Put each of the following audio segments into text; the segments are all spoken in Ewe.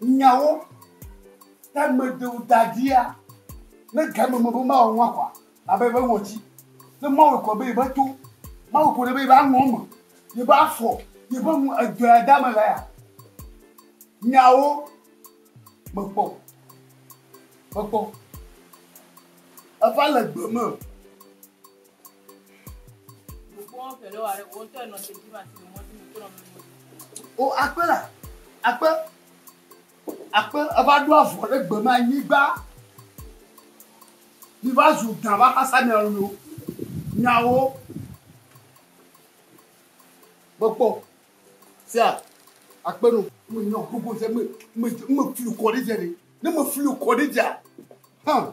Nyawo ta medewo da ɖia ne game me be mawɔ nua kɔa? Abe eƒe ŋɔti. Ne mawɔe kɔ be yeƒe to, mawɔe kɔ ɖe be yeƒe alɔ me, yeƒe afɔ, yeƒe nu edɔa da me lea, nyawo mekpɔ. Mekpɔ. Eva le gbe me. O akpe la, akpe, akpe eva ɖo avɔ ɖe gbe me anyigba. Mi va zu gã va xasa mia lo nyawo. Gbɔgbɔ sia akpe no. Me nyɔ gbogbo sia me me me fili kɔ ɖe dze ɖe. Ne me fili kɔ ɖe dzea, hã.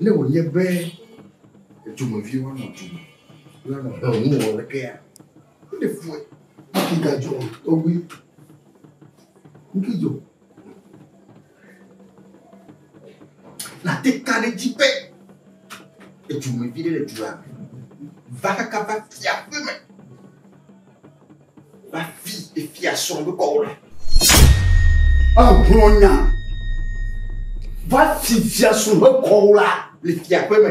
Ne wònye be dumevi woanɔ du me la nɔ he ŋu wɔ lekea ne fue kigadzɔ tɔgbi nkidzo Nate ka ɖe edzi be edzomevi ɖe le dua me va kaka va fia ƒe me va fi efia srɔ̃ be kɔwo le. Egblɔ nya va fi fia srɔ̃ be kɔwo la le fia ƒe me.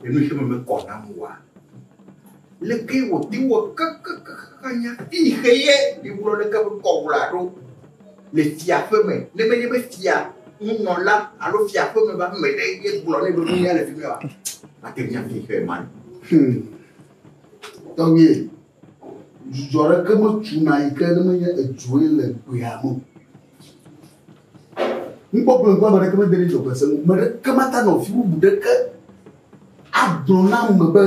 Ɖe nu xexeme mekɔ nam oa? Leke wòte wɔ kekekekeŋ anya eye xe ye míegblɔ leke ƒe ŋkɔ wòla ɖo le fiaƒe me ne menye be fia, nunɔla alo fiaƒeme ƒe ame ɖe ye gblɔ nɛ be nu ya le fi mɛ oa? Mate ŋu anya eye xe ma. Hum. Tɔgbuiye, Dzudzɔ aɖeke metsuna yi ke ne menye edzoe le gbeame o. Nukpɔkplɔ ŋku ame aɖeke mede ɖe dzɔgbese ŋu. Me ɖeke mata nɔ fi bubu ɖeke agblɔ na ame be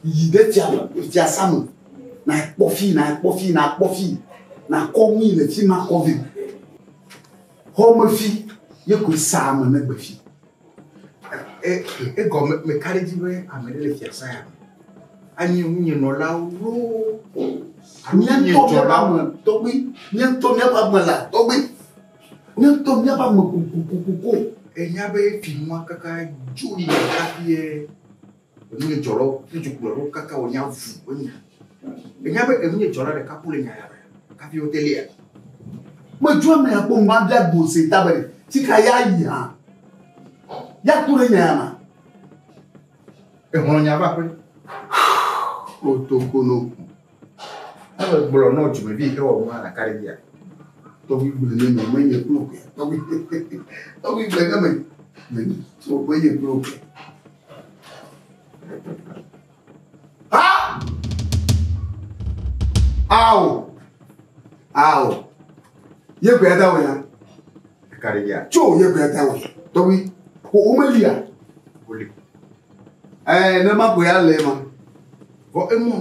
yi ɖe fia me, fiasã me, nakpɔ fii, nakpɔ fii, nakpɔ fii, nakɔ nu yi le fi ma kɔ vɛ. Xɔmefi ye koe sea ame negbe fi. Egɔme me ka ɖe edzi be ame ɖe le fiasã ya me? Anye ŋunye nɔlawo loo. Nyɛntɔmɛame tɔgbi, nyɛntɔmɛame ame la tɔgbi, nyɛntɔmɛame ame kokokoko. Enya be fi nua kaka dzo yi ɖe kafi ye. Enunye dzɔ ɖo ŋutsu kplɔ ɖo kaka wò nya vu wonye. Enya be enunye dzɔ ɖa ɖeka kule nya ya be kafi wote lia. Me dzɔ me ya kpɔn ba bia gbo se ta be si ka ya yi ha. Ya kule nya ya ma. Ehɔn nya ba kwe. Oto kono. Ele gblɔ nɔ dzumevi yi ke wɔ nu hã ɖeka ɖe bia. Tɔgbi gble ne me menye kple oke. Tɔgbi tɔgbi gble ne me menye so menye kple oke. Ha! Ao! Ao! Ye gbe ada wòya. Ɖeka ɖe bia. Tso ye gbe ada wòya. Tɔgbi ko wo melia. Wòli. Ɛɛ, ne ma koe ale ma. Vɔ emɔ.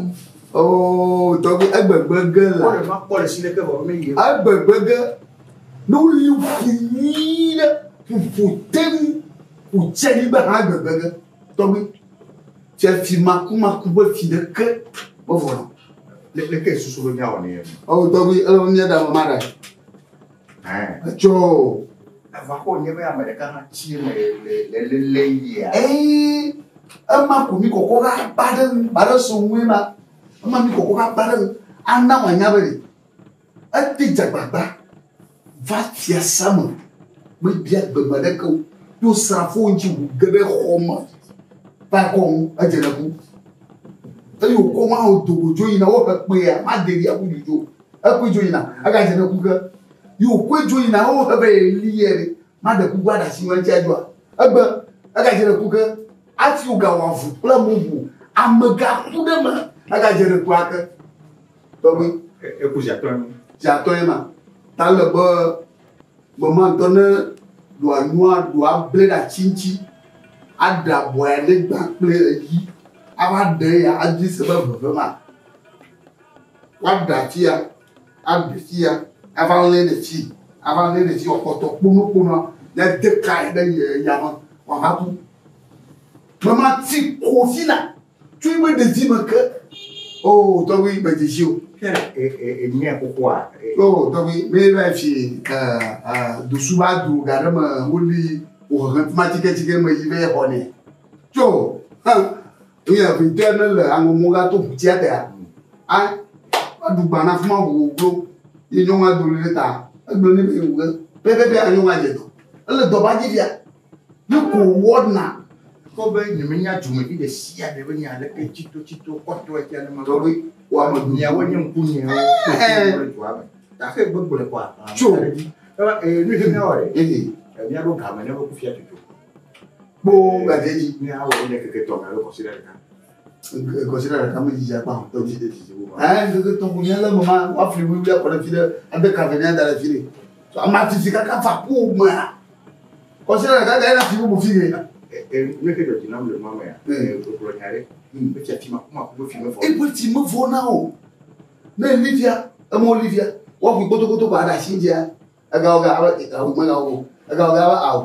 Oo, tɔgbe egbegbe ge la. Wole ma kpɔ le si ɖeke vɔ me yie. Egbegbe ge. Ne woli ƒu nyuie ɖe ƒuƒo teŋ wòtse nyigba hã egbegbe ge. Tɔgbe. Tse fi makumaku ƒe fi ɖeke mevɔ na. Leke susu be míawɔ ne ye? Oo, tɔgbe, ele mía ɖa ma ɖa. Ɛɛ. Etsɔ. Ava kpɔ wònye be ame ɖeka hã tsi le le le le le yia. Eyi ema ko mi kɔkɔ ɖe akpa ɖe ŋu ba ɖe so ŋue ma ema mi kɔkɔ ɖe akpa ɖe ŋu ana wòanya be ɖe ete dze agbagba va fiasa me mebia gbeme ɖeke o to srafowo ŋuti ŋu ge ɖe xɔ me va ekɔ ŋu edze ɖe ku eye wòkɔ ŋu awo do wòdzo yina wohe kpea madeɖia ku dzodzo ekpɔe dzo yina egadze ɖe ku ke. Yi wòkɔe dzo yina wo he be yeli yɛ be, Maɖe kuku aɖe asi ŋu eŋtia dzoa? Egbe, egadze ɖe ku ke, ati wògawɔ avu kple mobu, ame gaku ɖe eme hegadze ɖe kua ke. Tɔgbe. Eku zi atɔ̃e ma. Zi atɔ̃e ma. Ta le be gbe ma ŋutɔ ne ɖoa nua ɖoa ble ɖe atsi ŋutsi, aɖe abɔ ya ne gbã kple eyi, ava ɖe ya adui se be veve ma. Woaɖe ati ya. Aɖe fia, ava lé ɖe tsi, ava lé ɖe tsi wòakpɔtɔ kponokponoa, ne de kae ɖe ye ya me wòava ku. Ne mati ko si la, tso yi me ɖedzi me ke, o tɔgbi medze si o. Enye xoxoa. O tɔgbi, me va fi ke dosu va dro ga ɖe me woli wòhehe tuma tsiketsike me yi be xɔ nɛ. Tso, hã, Eya vite ne le aŋɔmɔ ga to ʋutia tea, a aɖu gba na fuma ʋuwo glo, ye nyɔnu ado ɖe ta, egblɔ ne be ewuge, pɛpɛpɛ a nyɔnu adze dɔ. Ele dɔ ba dzi fia, ne ko wɔna. Kpɔ be nyemenya dzomevi ɖe sia ɖe be nye aleke tsitotsito kpɔtɔe tia ne me. Tɔgbe wɔme miawo nye ŋkunyewo. Kpɔtɔe dua me. Taxe gbegblẽ kɔa. Tso. Eva ee nu dzi na wɔe. Ee. Miaɖo game ne be kufia tutu. Kpoo me ɖe edzi ne awɔ ne keke tɔ me alo kɔsiɖa ɖeka. Kɔsiɖa ɖeka me dzidzi akpa o, tɔdzi ɖe dzidzi wo. Ɛɛ keke tɔ ko nye le me ma wa fli wuli akɔ ɖe fi ɖe ade kave ne ada ɖe fi ɖe. So ama titi kaka fa ko me. Kɔsiɖa ɖeka ga ena fi bubu fi ge. E ne ke dɔdzi nam le ma me ya. E ko klo nya ɖe. Hmm. Be tsi ma kuma ko fi me fɔ. E ko tsi me fɔ na o. Ne livia, e mo livia. Wa fi koto koto ba da shi dia. Egawɔ gã abe egawu megawɔ o. Egawɔ gã abe awu.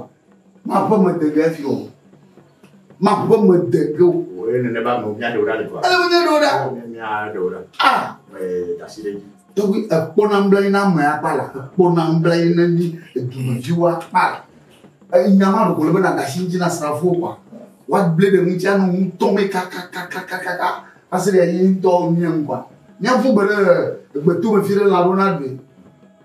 Maƒe me de ge fi o. Maƒe me de ge o. Wòye nene ba me mia ɖewo ɖa le kura. Ele me mia ɖewo ɖa. Mia ɖewo ɖa. Ah. Ee dasi ɖe dzi. Tɔgbi ekpɔ na nbla yi na ame akpa la. Ekpɔ na nbla yi na ni edumevi wa akpa la. Ee nya ma ɖoko le be na dasi dzi na srafo kwa. Wa gble ɖe ŋutsi anu ŋutɔ me kakakakakaka. Asi ɖe yi ŋutɔ mia ŋkwa. Mia fu gbe ɖe egbeto me fi ɖe la ɖo na ɖui.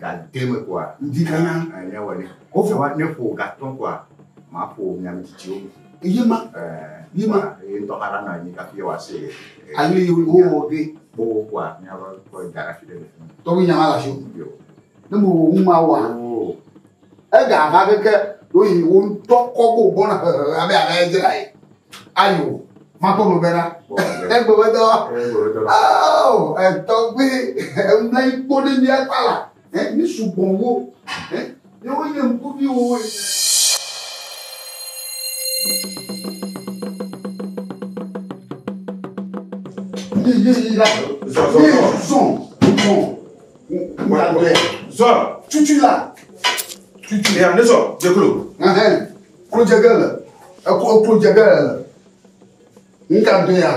gademe kɔa ŋdi kanya anya wɔ ne kɔfɔ wa ne ƒo gatɔ kɔa ma ƒo nya mitsitsi wo eye ma eye ma eye ŋutɔ hã ɖanɔ anyi kafi yɛ wa se ale yi wo wɔ ge kpɔ wo kɔa nya wɔ kɔ da ɖe afi ɖe le tɔwo nya ma la so yo ne mo wo ŋu ma wa o ega va keke ɖo yi wo ŋutɔ kɔ bo bɔna hehe abe ale dzra yi. ayo makpɔ mo bena egbewedɔ ao etɔgbe emla ikpo ɖe mía kpa la mi sugbɔ wo ne wonye ŋkuviwo ene. Zɔn, cucu la, cucu ya, ne zɔn, jekolo. Klodze le eklo klodze ge le le nka do ya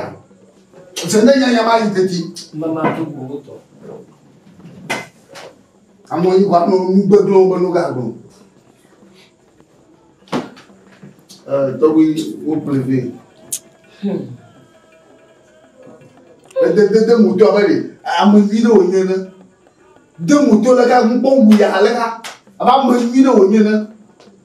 se ne nya nya ma yi teti mama to go to amo yi wa no nu gbe glo be no ga glo eh to wi wo pleve hmm de de de mo to abele amo yi no nye ne de mo to le ka mo bo wu ya le ka aba mo yi no nye ne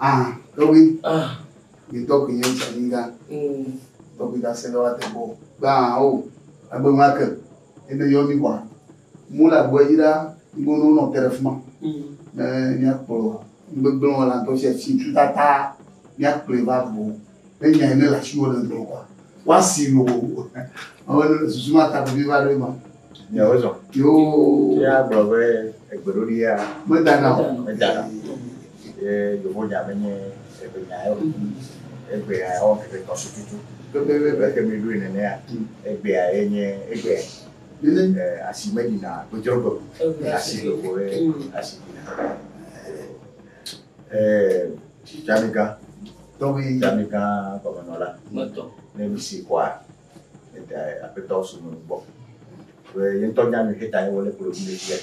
Ah, Toby. Ah. You talk in English, nigga. Mm. Toby that said what the ball. Ba o. Agbe ma ke. Ebe yo mi kwa. Mo la gbo yi da gbo no no tere fuma. Mm. Eh, mi akpo. Ngbe gbo no la to se si tu tata. Mi akpo ba bo. E nya ne la si wo le do kwa. Wa si lo. Awon susu ma ta bi ba re ma. Nɔ wo zɔn. Yo. Ye a gblɔ be egbe ɖoɖi ya. Me da na o. Me da na. Ye yovo nya me nye egbe nya yo. Egbe ya ya wɔ keke tɔ su tutu. Bebe bebe. Bebe ke mi ɖoe nene ya. Egbe ya ye nye egbe ya. Nene. E asi me dina gbedzro gbe. Asi gbe ko ye asi dina. E tami gan. Tɔmi. Tami gan gɔme nɔ la. Me tɔ. Ne mi si kɔa. Edae aƒetɔ so me gbɔ. Be ye ŋutɔ nya nu heta ye wole kplɔ dzi le fia.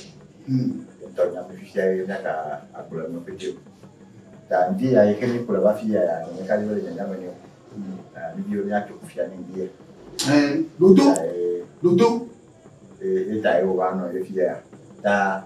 Hmm. Ye ŋutɔ nya be fifia ye nya ka agblɔ nu pete. Ta ŋdi ya yi ke mi kplɔ va fi ya ya ne ka le nya me ne. Hmm. Ah, mi dio nya to fia ni ŋdi ya. Eh, dodo. Dodo. Eh, eta ye wo va no ye fia. Ta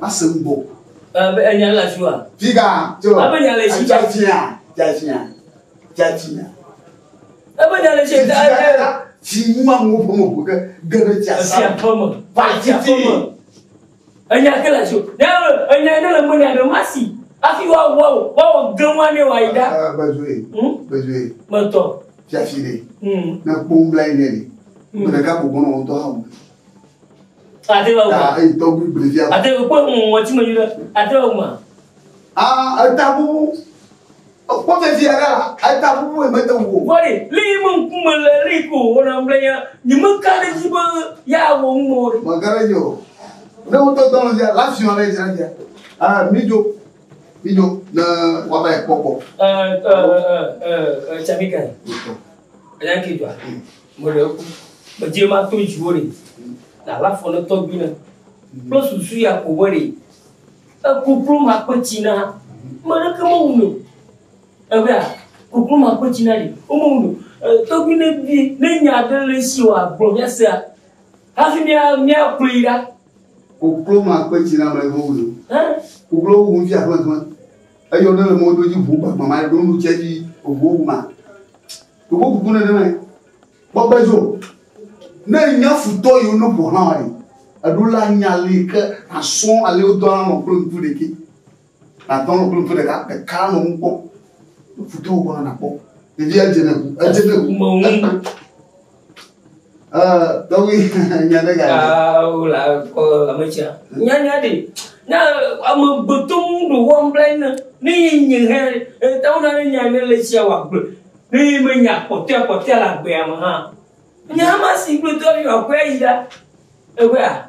Mase nu bɔ. Abe enya le afi wa. Figa tso. Abe enya le si. Jafiya jafiya jafiya. Abe enya le si. Fi mu amu ƒe mo ƒo ke geɖe tsi asa. Fi aƒe me. Fa tsi aƒe me. Enya ke le afi o. Ne enya ne le mo ne abe masi. Afi wa wa o. Wa o gɛnwa ne wa yi da. Gbɛdzoe. Gbɛdzoe. Mɛtɔ. Jafi de. Ne kpɔn bla yi ne de. Mɛ ɖeka gbogbo nɔ ŋdɔ hã o. Ate va taa eye tɔgbi blevi a. Ate kpɔ ŋɔti me nyuɖe. Ate va ma. Aa eta bubu. Ekpɔ vevi aɖe la eta bubu yi mete ŋu. Vɔɖi li yi me ŋkume le li ko wɔna ŋblenya. Nyi me ka ɖe dzi be ya wɔ ŋu mɔ ɖe. Maka ɖe dzi o. Ne wotɔ dɔ le dzi la fi ɔne dzi la dzi. Aa mi dzo. Mi dzo ne waba ekpɔkpɔ. Ɛ ɛ ɛ ɛ ɛ tsamika. Ɛ ya ke dwa. Meɖe eku, medze ma to dziwò ɖe, na la fɔ ne tɔgbui ne, kple susu ya ko be ɖe eku kplu ma kpe tsi na meɖe ke me wuno. Ebea, ku kplu ma kpe tsi na ɖe, wo me wuno. Tɔgbui ne bi, ne nya ɖe le esi wòa gblɔ mia sea, hafi mia, mia kplɔ yi ɖa. Ku kplu ma kpe tsi na meɖe ke me wuno. Ku kplu wu ŋuti aƒlẽ ƒlẽ. Eyɔ ne le mɔdodzi ʋu gbagbã ma ɖe, ɖo nu tse dzi ʋu wu ma. Ɖowo kuku nenemae. Gbɔgbe dzo. Ne nya futɔ yiwo no ƒoxlã wa ɖi. Eɖo la nya li ke asɔ ale wodɔ la nɔ kple ŋku ɖeki. Nadɔ nɔ kple ŋku ɖeka ɖeka nɔ ŋu kpɔ. Futɔ wo gbɔna nakpɔ. Ɖevi edze ne ku. Edze ne ku. Ekpe. Tɔgbi nya ɖe ga ɖe. Awo la kɔ ametsia. Nya nya ɖe. Na ame gbetɔ mu ɖo wɔm bla ina. Ne ye nye hɛ eta wo na ne nya ne le tsia wa gbe. Ne ye me nya kpɔtɔ kpɔtɔ la gbe ya me ha. Nya ma si gbetɔ bi wa kwe yi da. Ewe a.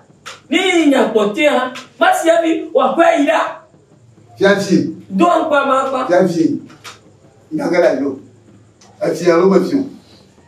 Ne ye nya kpɔtɔ ha. Ma si abi wa kwe yi da. Fiafi. Do ankpa ma akpa. Fiafi. Nya ga la yo. Afi ya lo me fiu.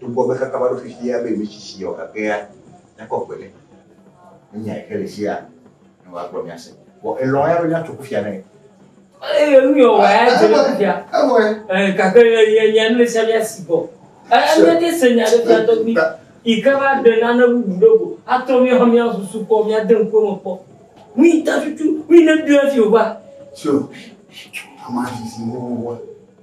Togbɔ be xexea va ɖo fifia be ɣleti si yɔ gagea nakɔ gbe ɖe, menyae ke le fia ne wòagblɔ mía se. Vɔ elɔ̃ eya be míatso kufia nɛ. Eye nu yɔ wòa ya dze ɖe kufia. Evɔe. Ɛɛ, gake ye ye nya nu ɖe sia ɖe si gbɔ. Ɛɛ, míete se nya ɖe fia tɔgbi yi ke va ɖe nane bubu ɖe go atrɔ mía hã mía susu kpɔ, míade ŋku eme kpɔ. Nu yi ta tutu, nu yi ne biɔa fi wòva. Tso, amea zizi nuwuwua.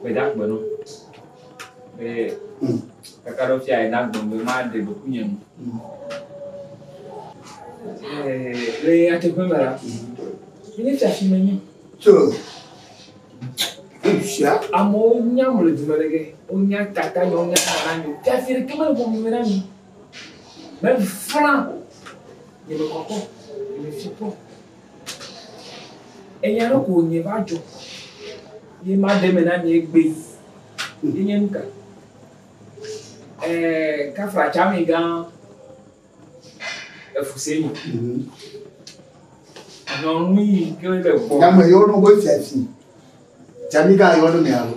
Gbedagbe nɔ be kaka ɖo fia ena gbɔn be ma de ɖoku nye nu. Le ate ƒe me la, mi ne fia fi me nye. Tso. Fia. Amewo nya mo le dume ɖe ge, wo nya tata nyo, nya tata nyo. Fia fi ɖe kema le bɔn me na mi. Me flan. Nye me kɔkɔ, nye me fi kɔ. Enya ɖe ko wònye va dzɔ ye maɖe eme na mi egbee. Enye nu ka? Ɛɛ, kafra tsami gã efuse mi. Nyɔnu yi ke le gbɔ. Nyame yɔ nu be fiafi. Tsami gã yɔ nu mea lo.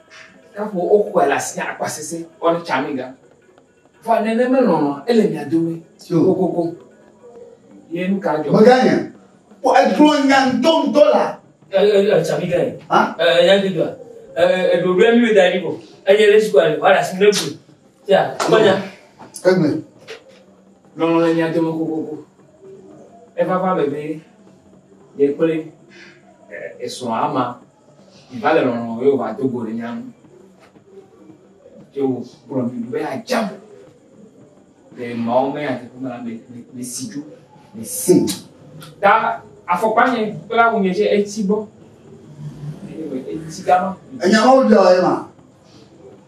Ɖaƒo woxɔe le asi akpa sese ɔne tsami ga. Fa nene me lɔlɔ ele mia dome kokoko. Ye nu ka jɔ? Meganya. Po eklo nya ŋtɔ ŋtɔ la. Ele tsami ga. Ha? Eh ya de do. Eh edo do mi da ni ko. Eye le sukua le wala si ne bu. Ya, manya. Egbe. Lɔlɔ le mia dome kokoko. Eva va bebe. Ye kple esrɔ̃ ama. Miva le lɔlɔ̃ me be wòva do go ɖe mía ŋu. Ye wògblɔ mi be adzam le Mawu me nyateƒe me la me, mesi dzo, mesi. Ta afɔkpa nye kple awu nye tse eti gbɔ. Eti gama. Enya mawo bia ye ma.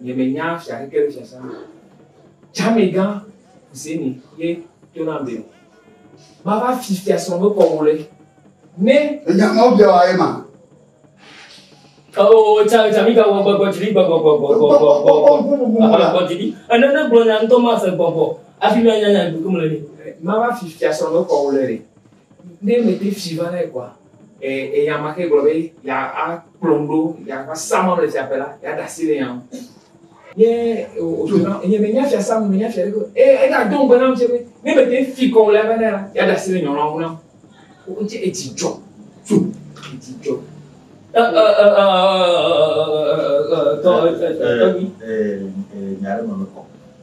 Nye me nya fia keke ɖe shasha me. Tsame gã kusé ni ye to na be ma va fi fia srɔn be kɔgo le. Ne. Enya ma obia wa ye ma. Oh, tsame tsame gã wɔ gbɔgbɔ jiri gbɔgbɔ gbɔgbɔ gbɔgbɔ gbɔgbɔ. Aha gbɔ jiri. Ene ne gblɔ nya ŋutɔ ma se gbɔgbɔ. Afi mi anya nya gbogbo me le ni. Ma va fi fia srɔn be kɔgo le. Ne mede fi va lae kɔa, enya ma ke gblɔ be ya akplɔm ɖo ya va sa ma le fiaƒe la, ya da asi le nya ŋu. Ye wòdona, nye menya fia sa, menya fia ɖe ko. Eye ega do ŋugbe nam tsɛ be, ne mede fi kɔ le va lae la, ya da asi le nya la ŋu nam. Wodze edzi dzɔ. Tso edzi dzɔ. Tɔgbi. Nya ɖe me mekɔ.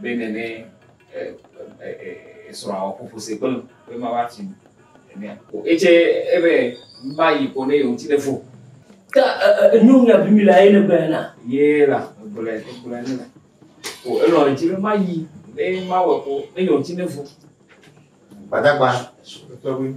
Bene ne esrɔ̃a wɔ ƒoƒo se kple be ma va tsi ne ko etse ebe ma yi ko ne yewo ti ne fo. Ta enu nya bi mi la ye ne bɛn na. Ye la gblɛ gblɛ ne la. Ko elɔ eti ne ma yi ne ma wɔ ko ne yewo ti ne fo. Gbadagba sukutɔwi.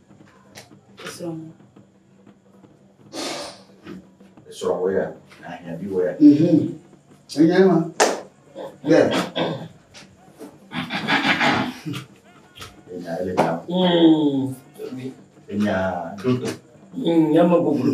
Esrɔ̃wɔya, ahiãviwɔya. Enye ma. Ɖe. Enya ele ta. Enya ɖoto. Enya me bublu.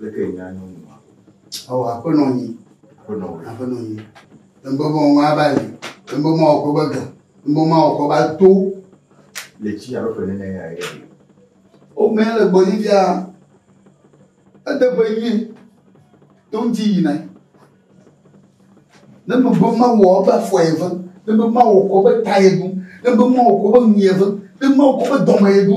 Leke nya nyo nu ma? Ɔ aƒe nɔ nyi. Aƒe nɔ wò. Aƒe nɔ nyi. Ŋbɔ mɔ ŋa ba li. Ŋbɔ mɔ ɔkɔ ba gan. Ŋbɔ mɔ ɔkɔ ba to. Le tsi alo ƒe nene ya ye. O mɛ le gbɔ yi bia. Ede ƒe yi. To ŋti yi na. Ne me bɔ ma wɔ ba fɔ ye ve. Ne me ma wɔ kɔ be ta ye du. Ne me ma wɔ kɔ be nu ye ve. Ne me ma wɔ kɔ be dɔme ye du.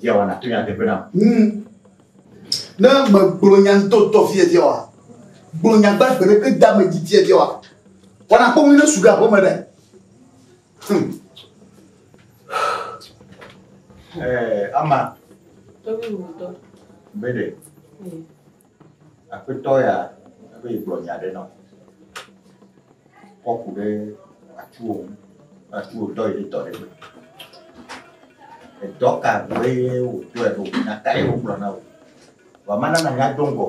Viawa nato nyateƒe nam. Hmm. Ne megblɔ nya ŋutɔŋutɔ fiefia wa, gblɔ nya gbagbe ɖeke da me dzi fiefia wa, wana kpɔ ne su ɖe aƒe me ɖe. Hmm. Eh, ama. Tobi wutɔ. Bede. Hmm. Aƒetɔ ya be yegblɔ nya aɖe nam. Kɔ ku ɖe atuwò ŋu. Atuwò dɔ yi ɖe dɔ ɖe gbe. Edɔ ka gbɔe ye wòdɔe ɖo? Nya kae ye wògblɔ na wò? Vɔ mana nànya do ŋgɔ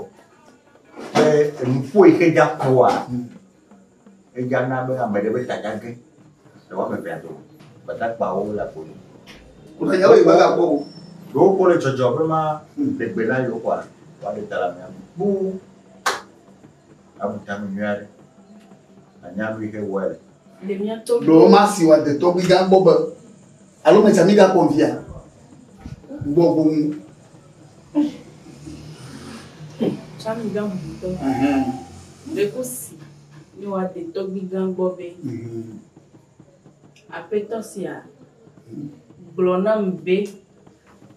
be enuƒo yi ke dza ƒoa, Eya na be ame ɖe ƒe ta gage le wo ame evea dome. Gbadagbawo le agbo dzi. Wonɔ yawo yi magakpɔ o. Ɖe wokpɔ le dzɔdzɔ be ma ɖe gbe na yewo kɔa? Woaɖe ta le amea me kpuu. Abu ta nu nyui aɖe. Nànya nu yi xe wɔe le. Le mía tɔgbuiwo. Ɖewo masi wòade tɔgbuigã gbɔ be Alo me tsa mi ga kpɔ via. Gbɔ gbɔ mu. Tsa mi ga mu tɔ. Le ko si ni wa te tɔ gbi gan gbɔ be. Mhm. Aƒetɔ sia. Gblɔ nam be.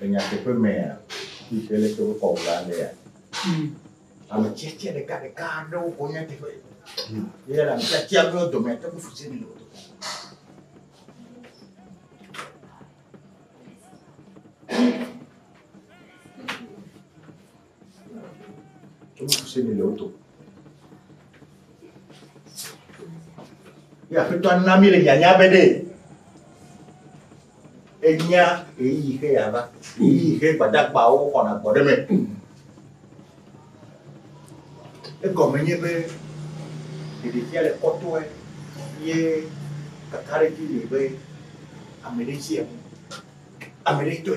Le nyateƒe mea, fi ke leke wo kɔ wla lea, ame tsetse ɖeka ɖeka aɖewo ko nyateƒe. Ye la ame tsetse aɖewo dome ate ŋu fuse ne lɔto. Ye aƒetɔ na mi le nyanya be ɖe enya eyi xe yava eyi xe gbadagbawo xɔna gbɔ ɖe me. Egɔme nye be ɖeɖefia le kɔtɔe ye kakaɖedzi le be ame ɖe tsi enu ame ɖe tɔe.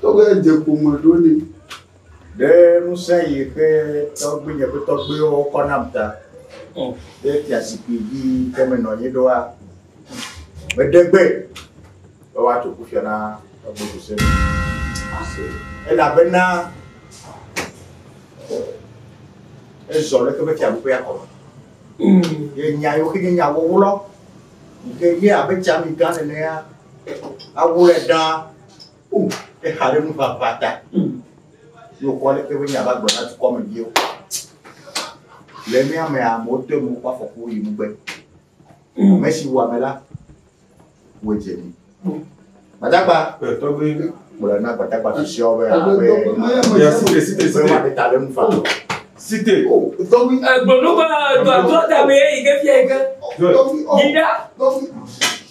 Tɔgbe dze ƒome ɖo ne. Ɖe ŋusẽ yi ke tɔgbuinye ƒe tɔgbuiwo kɔ nam ta ɖe fiazikpui dzi ke menɔ anyi ɖoa, meɖe gbe be woatso kufia na tɔgbe Jose. Elabena ezɔ ɖe eƒe fiaɖuƒea kɔme. Ye nya yiwo ke nye nya wɔwlɔ yi ke nye abe tsamigã nenea Awɔe ɖa o exa ɖe nuʋaʋã ta ne wokɔ leke be nya va gblɔ na dukɔmeviwo. Le mía mea amewo te nu woƒe afɔku yi megbe. Ame si wɔ ame la wɔ dze mi. Gbadagba tɔgbi gblɔ na gbadagba susɔewo be abe Site. Tɔgbi egblɔ nu be dɔdɔ da me yi ke fia yi ke. Yi ɖa.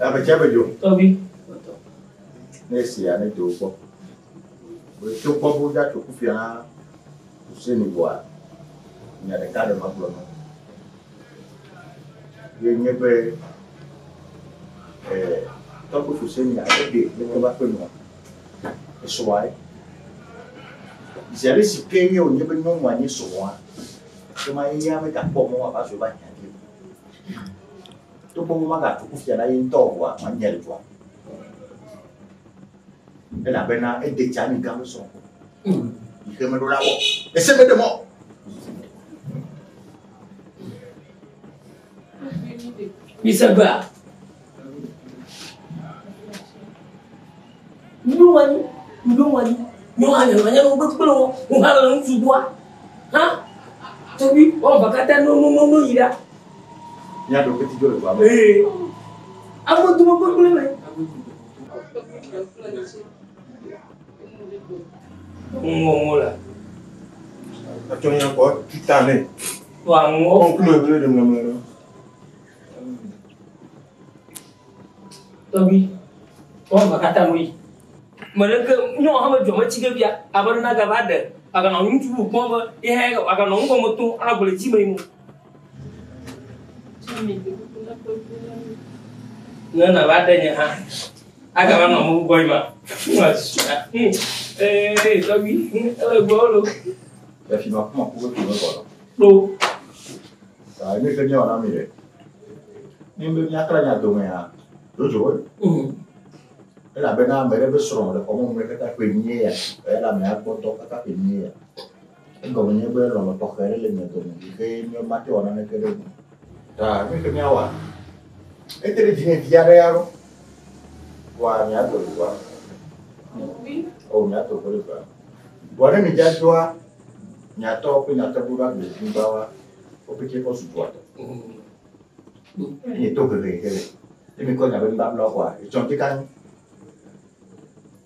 Ame tsia me dzo. Tobi. Ne esia ne dzo gbɔ. Wòtso gbɔ bo dza tso kufia na Hussein bua. Nya ɖeka ɖe ma gblɔ nɔ. Ye nye be ɛ tɔkpo Hussein ya ebe ne ke va ƒe nua. Esɔa ye. Zi ale si ke ye wònye be nyɔnua nye sɔa. Ke ma ye ya megakpɔ mɔ wòava zɔ va hiã ke. Togbɔ be magatu kufia na ye ŋutɔ oa, manyae le dua me, elabena ede tsi ami gã sɔ ko, yi xe meɖo la wɔ, ese meɖe mɔ. Mise bea, Miɖo ŋu anyi, miɖo ŋu anyi, nyɔnu hã nyanɔ nyanu kpekpe o, ŋu hã le ŋutsu doa, hã, tɔgbi, wɔn va katã no no no no yi ɖa. Míaɖo kpeti dzo le dua me. Ee, amewo dogo gbegblẽ me. Ŋuwo ŋuwo la. Atsɔ nya kɔ tuta nɛ. Wa ŋuwo. Kɔnkulu ebele ɖe mlɔmlɔ ɖe. Tɔgbi, tɔgbi ma kata mo yi. Mɛɖeke nyɔ hame dzɔ me tsike bia, abe ɖe na gava ɖe, aganɔ ŋutsu bu kpɔn be, ihe aganɔ ŋgɔ me to, agble dzi me yi mo. Ne nava ɖe nye hã, agava nɔ mo gbɔ ima. Ee, tɔgbi, ele gbɔ lo. Efi ma kuma kuku tu mekɔ lɔ. Ɖo. Aa, ne ke nyɔ na mi ɖe. Ne be miakra nya dome ya, dodzo wo. Elabena ame ɖe be srɔ̃ le xɔme me kaka ƒe nyuie ya, elabena akpɔtɔ kaka ƒe nyuie ya. Egɔme nye be lɔlɔ̃ tɔxɛ aɖe le mia dome si xe mate wɔ naneke ɖe eŋu. Ta nu si miawɔa? Ete ɖe dzinye vi aɖe ya ɖo. Ʋɔa miato ʋɔa? O, miato ʋɔ ɖe ʋɔa. Ʋɔa ne midza doa miatɔ kple miatɔ ɖo ɖa gbe zi bawa wo pɛtɛ kɔ su ʋɔa tɔ. Enye to hehe ke le. Ne mikɔ nya be nubabla ʋɔa, etsɔ ŋdi kanyi.